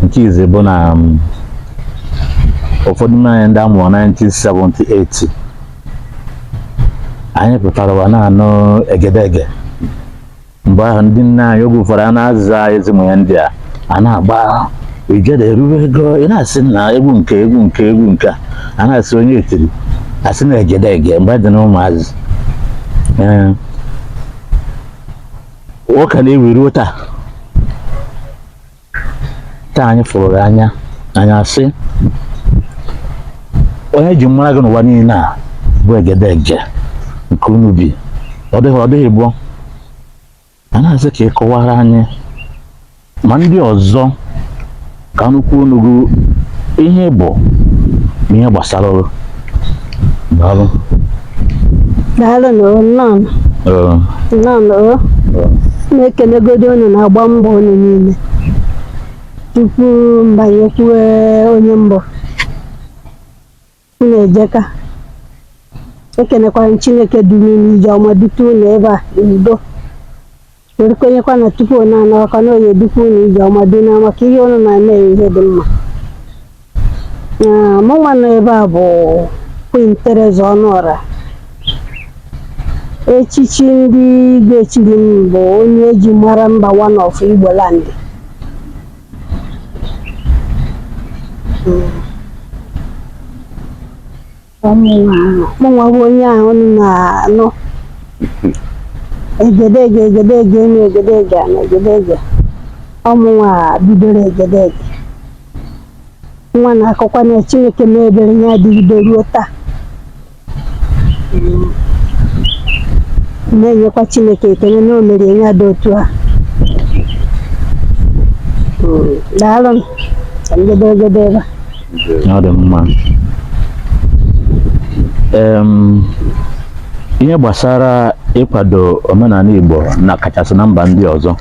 nke izi bụ na um, ụfọdụ n'ime anyị ndị a mụrụ 1978 anyị pụtara ụwa na-anụ egedege mgbe ahụ ndị nna anyị oge ụfọdụ a na-aza ezi mụ ya ndị a a na-agba ijere erube ego ị na-asị nna egwu nke egwu nke egwu nke a na-asị onye etiri asị na egedege mgbe dị na ụmụazị ọ ka na-ewu ruo taa taa anyị fụrụ gị anya anyị asị onye e ji mara gị n'ụwa niile a bụ egedege nke Unubi ọ dịghị ọ dịghị gboo anyị asị ka ị kọwara anyị ma ndị ọzọ ka nụkwuo n'ọnụ gị ihe bụ na ihe gbasara gị Daalụ. Daalụ nụ o, nnọọ nụ. Ee, nnọọ nụ o. ee. na-ekelegodi unu na-agba mbọ unu niile tupu m banye kwuwe onye m bụ unu ejeka ekenekwara m Chineke duru unu ije ọma dute unu ebe a n'udo were kwenyekwa na tupu unu ana ọkwa na ọ ya-edukwa unu ije ọma dị na maka ihe unu na-eme ihe dị mma Ah, mụ nwa nọ ebe a bụ Queen Theresa Ọnụọra echichi ndị Igbo chiri m bụ onye e ji mara mba one of Igbo land Mm. mụnwa bụ onye ahụ unu na-anụ egedege egedege enu egedege ana egedege ọ mụnwa bidoro egedege nwa na-akọkwa na Chineke mee ebere ya adịgide ruo taa na-enyekwa Chineke ekele na o mere ya dị otu a daalụ m ka m jedebegodi ebe a ọ dị mma ihe gbasara ịkwado omenala Igbo na kachasị na mba ndị ọzọ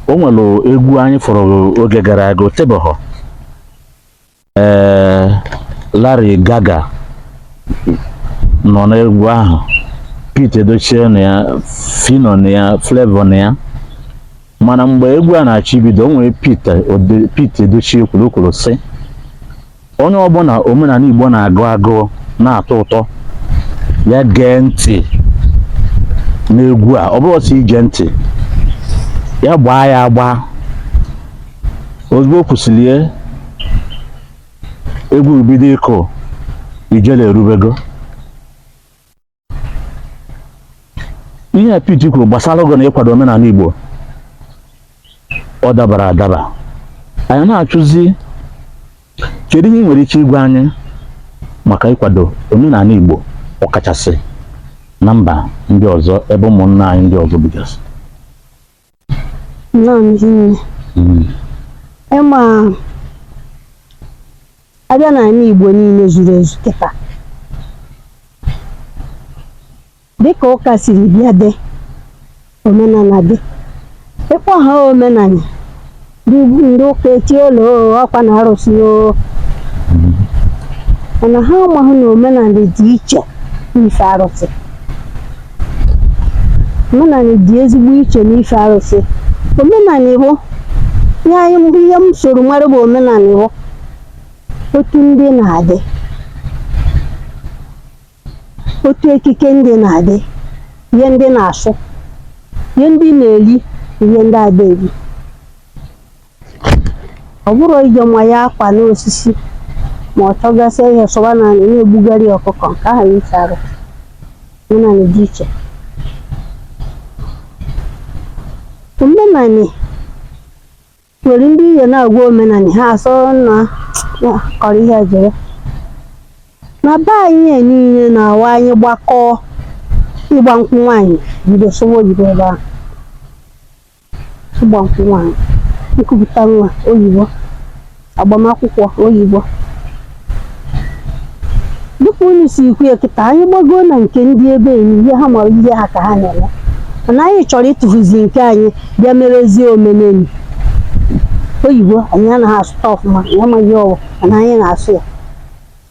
o nwere egwu anyị fụrụ oge gara aga o tebehọ ee eh, Larry Gaaga nọ n'egwu ahụ Pete Edochie nọ ya Phyno nọ ya Flavour nọ ya mana mgbe egwu a na-achọ ibido o nwere Pete Ode- Pete Edochie kwuru o kwuru sị onye ọbụla omenanị Igbo na-agụ agụụ na-atọ ụtọ ya gee ntị n'egwu a ọ bụrọ sọ ige ntị ya gbaa ya agba ozugbo o kwusịrị ya egwu bido ịkụ ijele erubego ihe a Pete kwuru gbasara ogo na ịkwado omenanị Igbo ọ dabara adaba anyị na-ajụzi kedu ihe ị nwere ike ịgwa anyị maka ịkwado omenanị Igbo ọkachasị na mba ndị ọzọ ebe ụmụnna anyị ndị ọzọ bigasị Nnọọ Ezinne. Mm. Ị ma a bịa n'anị Igbo niile zuru ezu kịta dịka ụka siri bịa dị omenanị dị ịkpọ ha omenanị Ndị ụka etie olu ọkwa na arụsị o mana ha amaghị na omenanị dị iche n'ife arụsị omenanị dị ezigbo iche n'ife arụsị omenanị bụ nye anyị mbụ ihe m soro mara bụ omenanị bụ otu ndị na-adị otu ekike ndị na-adị ihe ndị na-asụ ihe ndị na-eri ihe ndị ada eri ọ bụrọ ije ma ya akwa n'osisi ma ọ chọgasịa ihe sọba n'anị na-egbugharị ọkụkọ nke ahụ iche arụ omenanị dị iche omenanị Nwere ndị ihe na-agwa omenani ha asọ na na kọrọ ihe jere. Na be anyị a niile na-awa anyị gbakọọ ịgba nkwụ nwaanyị bido sụwa oyibo ebe ahụ. Ịgba nkwụ nwaanyị, nkupụta nwa oyibo, agbamakwụkwọ oyibo. dịka unu si ekwu ya kịta anyị gbagoo na nke ndị ebe enyi ihe ha mara ihe ha ka ha na-eme mana anyị chọrọ ịtụfuzi nke anyị bịa merezie omenanị oyibo anyị anaghị asụta ọfụma anyị amaghị ọwụ mana anyị na-asụ ya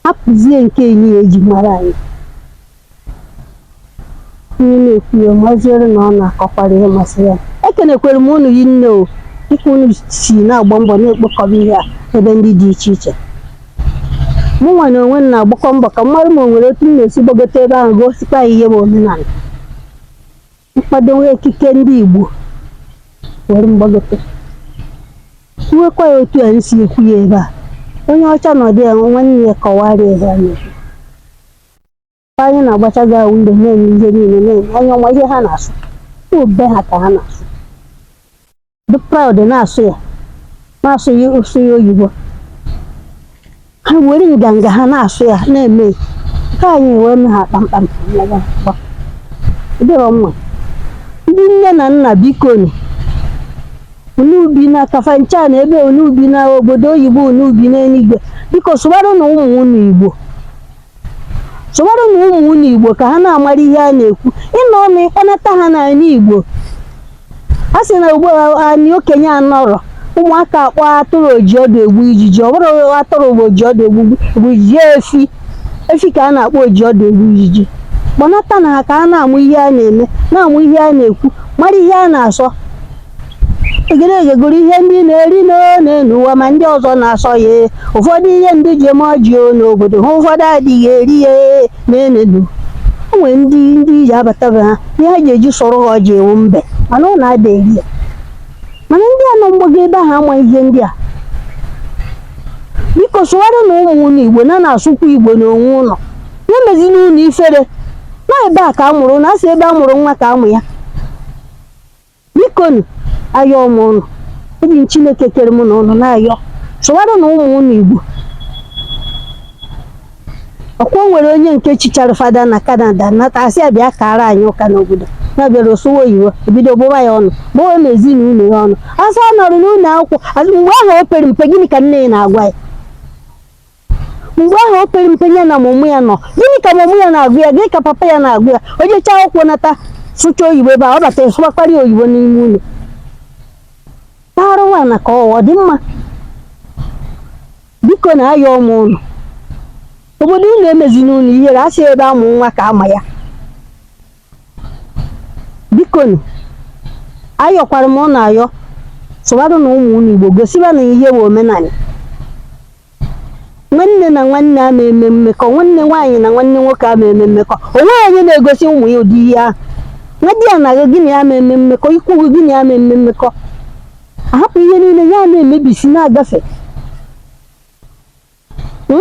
hapụzie nke anyị a e ji mara anyị Onye na-ekwu ya maziri na ọ na-akọkwara ihe masịrị ya. Ekenekwara m unu rinne o dịka unu si na-agba mbọ na-ekpokọba ihe a ebe ndị dị iche iche. Mụnwa na onwe m na-agbakwa mbọ ka m mara ma o nwere otu m ga-esi gbagote ebe ahụ gosikwa ya ihe bụ omenala. M kwadowe ekike ndị Igbo were gbagote. Kwuwekwa ya otu a m si ekwu ya ebe a. Onye ọcha nọdụ ya nwanne ya kọwara ya ihe a na-ekwu. anyị na-agbacha gị ahụ mgbe na-eme ihe niile na-eme onye ọma ihe ha na-asụ olu be ha ka ha na-asụ dị proud na-asụ ya na-asụ ya ị sụ ya oyibo ha were nganga ha na-asụ ya na-eme nke anyị wee mee ha kpamkpam ọ dịrọ mma ndị nne na nna bikonu unu bi na kafancha na ebe unu bi na obodo oyibo unu bi n'eluigwe biko sụwaranụ ụmụ unu igbo sụwaranụ ụmụ unu igbo ka ha na-amara ihe a na-ekwu ị nọ nọ ị kpọnata ha n'ala igbo a sị na ugbu a anyị okenye anọrọ ụmụaka akpọ atụrụ oji ọdụ egbu ijiji ọ bụrọ atụrụ bụ oji ọdụ egbu ijiji efi efi ka a na-akpọ oji ọdụ egbu ijiji kpọnatanụ ha ka ha na-amụ ihe a na-eme na-amụ ihe a na-ekwu mara ihe a na-asọ egede egegoro ihe ndị na-eri n'enu ụwa ma ndị ọzọ na-asọ ya ụfọdụ ihe ndị ji eme ọjị o n'obodo ha ụfọdụ adịghị eri ya n'enenu o nwere ndị ndị ọbịa bata be ha ihe ha ji eji chọrọ ha ọjị ewu mbe mana ọ na-ada eri ya mana ndị a nọ mgbago ebe ahụ ama ihe ndị a biko sụwaranụ ụmụ unu igbo na-asụkwa igbo n'onwe unu ya emezina unu ifere na ebe a ka a mụrụ unu a sị ebe a mụrụ nwa ka a mụ ya bikonu ayọọ m ụnụ eji m chineke kere mụ na ụnụ na-ayọ sụwaranụ ụmụ ụnụ igbo ọ kwa o nwere onye nke chichara fada na canada nata a sị ya bịa kara anyị ụka n'obodo na bịara ọ sụwa oyibo e bido gbụwa ya ọnụ gbụwa na ezinụlọ ya ọnụ a sị ọ nọrọ n'ụlọ akwụkwọ mgbe ahụ o pere mpe gịnị ka nne ya na-agwa ya mgbe ahụ o pere mpe ya na mummy ya nọ gịnị ka mummy ya na-agwa ya gịnị ka papa ya na-agwa ya o jechaa akwụkwọ nata sụcha oyibo ebe a ọ bata sụwakwara ya oyibo n'ime ụlọ paghara nwaanyị na ka ọ dị mma bikonu ayọọ m unu obodo unu emezina unu ihere a sị ebe a mụ nwa ka a ma ya bikonu ayọkwara m unu ayọ sụwaranụ ụmụ unu igbo gosibanụ ha ihe bụ omenala Nwanne na nwanne ama eme mmekọ, nwanne nwaanyị na nwanne nwoke ama eme mmekọ. O nweghị onye na-egosi ụmụ ya ụdị ihe ahụ. Nwadiana gị gị na ya ama eme mmekọ, ikwu gị gị na ya ama eme mmekọ. A hapụ ihe niile ya na-emebisi na-agafe. Hmm?